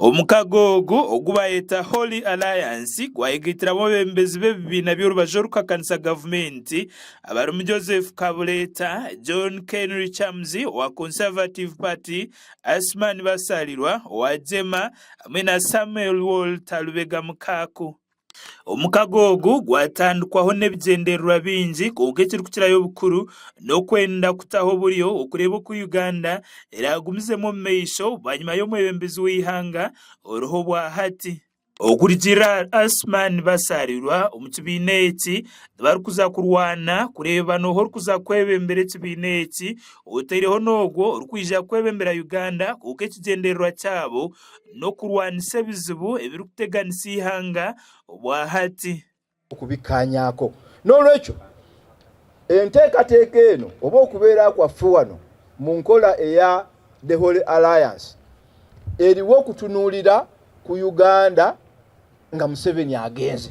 Omukago ogu ogu baayeta Holy Alliance gwayegaitiramu abeebembezi b'ebibiina by'orubaju orukuhakanisa gavumenti abarimu Joseph Kabuleta, John Kenry Chamzi owa Conservative Party, Asuman Basalirwa owa Jema hamwe na Samuel Walter Lubega Mukaaku. Omukago ogu gwatandikwaho n'ebigyendererwa bingi kwonka ekirikukirayo obukuru n'okwenda kutaho oburyo okureeba oku Uganda eraagumizemu omu maisho bwanyima y'omwebembezi w'eihanga oriho obwa hati. Okurugiirira ahari Asuman Basalirwa omu kibiina eki nibarikuza kurwana kureeba n'oha orikuza kwebembera ekibiina eki oteireho n'ogwo orikwija kwebembera Uganda kwonka ekigyendererwa kyabo n'okurwanisa ebizibu ebirikuteganisa eihanga obwa hati. okubikaanyako. N'olwekyo, enteekateeka eno oba okubeera kwaffe wano mu nkola eya The Holy Alliance eriwo kutunuulira ku Uganda nga Museveni agenze.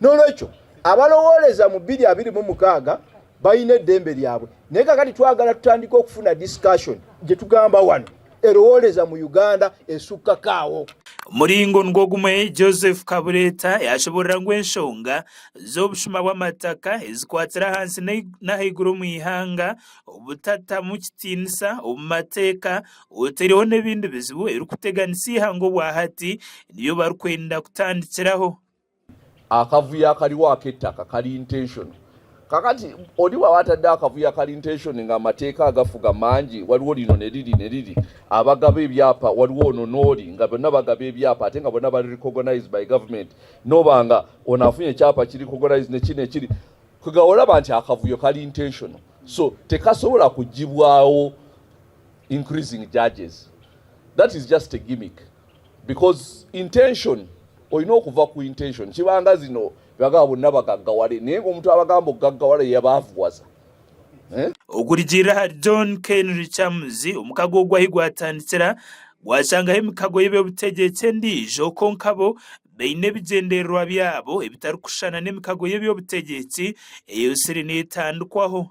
N'olwekyo, abalowooreza mu biri abirimu mukaaga baine edembe ryabwe. Naye kakati twagala tutandike okufuna discussion gye tugamba wanu erowooreza mu Uganda esukka ka awo. Omuringo nigwo gumwe Joseph Kabureeta yaashoboorora ngu enshonga z'obushuma bw'amataka ezikwatira ahansi n'ahaiguru omu ihanga, obutatamu kitiinisa omu mateeka, otaireho n'ebindi bizibu ebirikuteganisa eihanga obwa hati nibyo barikwenda kutandikiraho. Akavuyo akariho ak'etaka kari intentional. Kakati oribo aba atariho akavuyo akari intentional ngu amateeka agafuga mangi wariwo orinona eri rina eri riri abagaba ebyapa wariwo onona ori nga bona abagaba ebyapa ate nga bona bari recognized by government noba nga ono afunye ekyapa kiri recognized nekiri nekiri kugahora oraba nti akavuyo kari intentional so tekasobora kugibwaho increasing judges that is just a gimmick. Because intention oyine okuva ku intention kibanga zino bagabo nabagagaware naye ngu omuntu abagamba okugagaware yabavgwaza eh. Okurugiirira ahari John Keinry Chams, omukago ogu ahi gwatandikira gwashangaho emikago y'eby'obutegyeki endiijo kwonka bo baine ebigyendererwa byabo ebitarikushushana n'emikago y'eby'obutegyeki eyotsire neetandikwaho.